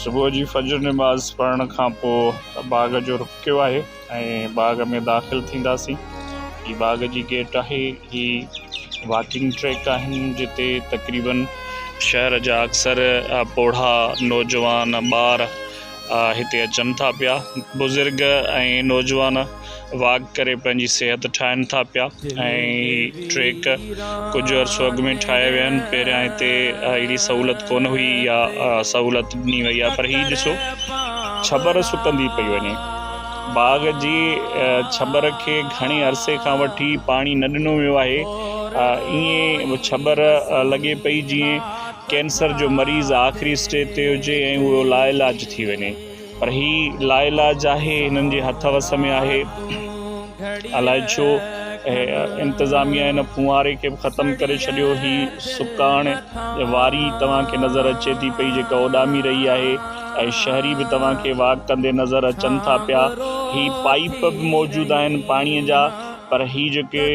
صبح جي فجر نماز پڙهڻ کان پوء باغ جو رخ ڪيو آهي ۽ باغ ۾ داخل ٿينداسين هي باغ جي گيٽ آهي هي واڪنگ ٽريڪ آهن جتي تقريبن شهر جا اڪثر پوڙها نوجوان ٻار هتي اچن ٿا پيا بزرگ ۽ نوجوان واڪ ڪري پنهنجي صحت ٺاهن ٿا پيا ۽ ٽريڪ ڪجهه عرصو اڳ ۾ ٺاهيا ويا آهن پهريان هتي اهڙي سهولت ڪونه هئي يا سهولت ڏني وئي آهي پر هي ڏسو ڇٻر سڪندي پئي وڃي باغ جي ڇٻر کي گهڻي عرصي کان وٺي پاڻي نه ڏنو ويو آهي ائين ڇٻر لڳي پئي جيئن ڪينسر جو مريض آخري اسٽيج تي هجي ۽ اهو لا علاج ٿي وڃي پر هي لاعلاج آهي، هنن جي هٿ وس ۾ آهي. الاء ڇو انتظاميا ان ڦونهاري کي به ختم ڪري ڇڏيو. هي سڪاڻ واري توهان کي نظر اچي ٿي پئي جيڪا اڏامي رهي آهي ۽ شهري به توهان کي واڪ ڪندي نظر اچن ٿا پيا. هي پائيپ به موجود آهن پاڻي جا پر هي جيڪي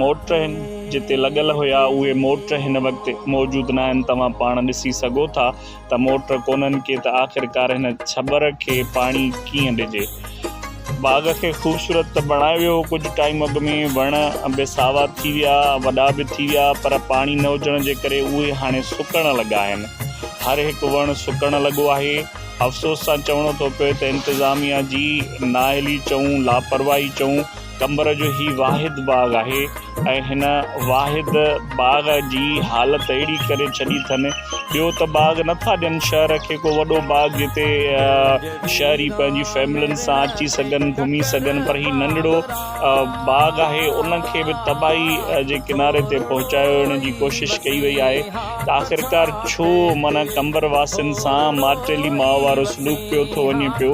موٽر هن جتي لڳل هيا اهي موٽر هن وقت موجود ناهن توهان پاڻ ڏسي سگهو ٿا. ته موٽر ڪونهن ڪي ته آخرڪار هن ڇٻر کي پاڻي ڪيئن ڏجي. باغ کي خوبصورت ته بڻايو ويو هو ڪجهه ٽائيم اڳ ۾ وڻ به ساوا ٿي ويا وڏا به ٿي ويا پر پاڻي نه هجڻ جي ڪري اهي هاڻي سڪڻ لڳا آهن هر هڪ وڻ سڪڻ لڳو آهي افسوس سان چوڻو ٿو پوي ته انتظاميا جي نااهلي چئون لاپرواهي چئون قمبر جو هي واحد باغ آهي ۽ هن واحد باغ جي حالت اهڙي ڪري ڇڏي اٿن ٻيو ته باغ نه ٿا ڏين شهر کي ڪو وڏو باغ جتي شهري پنهنجي فيملين سان اچي سگهن گهمي سگهن پر هي ننڍڙو باغ آهي ان کي به تباهي جي ڪناري تي پهچايو ويڻ جي ڪوشش ڪئي وئي آهي ته آخرڪار ڇو معنيٰ قمبر واسين سان مارٽيلي ماء وارو سلوڪ پيو ٿو وڃي پيو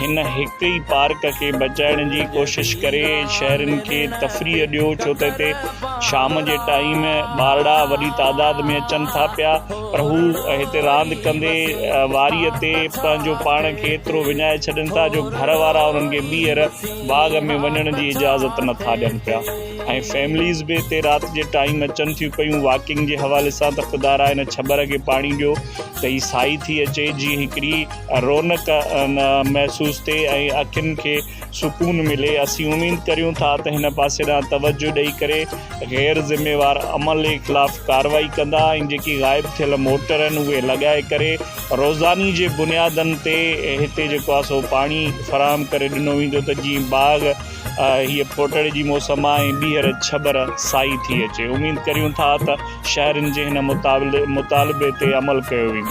هن هڪ ئي پارڪ کي بچائڻ جي ڪوشش ڪري شهرين کي تفريح ڏيو ڇو ته هتي شام جي ٽائيم ٻارڙا وڏي تعداد ۾ اچن ٿا پيا پر هو هتي راند ڪندي واريء تي پنهنجو پاڻ کي ايترو وڃائي ڇڏين ٿا جو گهر وارا انهن کي ٻيهر باغ ۾ وڃڻ جي اجازت نه ٿا ڏين پيا ۽ فيمليز به هتي رات جي ٽائيم اچن ٿيون پيون واڪنگ جي حوالي سان ته خدارا هن ڇٻر کي پاڻي ڏيو ته هي سائي ٿي اچي جي هڪڙي رونق محسوس ٿئي ۽ اکين کي سڪون ملي اسين اميد ڪريون ٿا ته هن پاسي ڏانهن توجه ڏئي ڪري غير ذميوار عملي خلاف ڪارروائي ڪندا ۽ جيڪي غائب ٿيل موٽر آهن اهي لڳائي ڪري روزاني جي بنيادن تي هتي جيڪو آهي سو پاڻي فراهم ڪري ڏنو ويندو ته جيئن باغ هيء ڦوٽڙي جي موسم آهي ۽ ٻيهر ڇٻر سائي ٿي اچي اميد ڪريون ٿا ته شهرين جي هن مطالبي تي عمل ڪيو ويندو.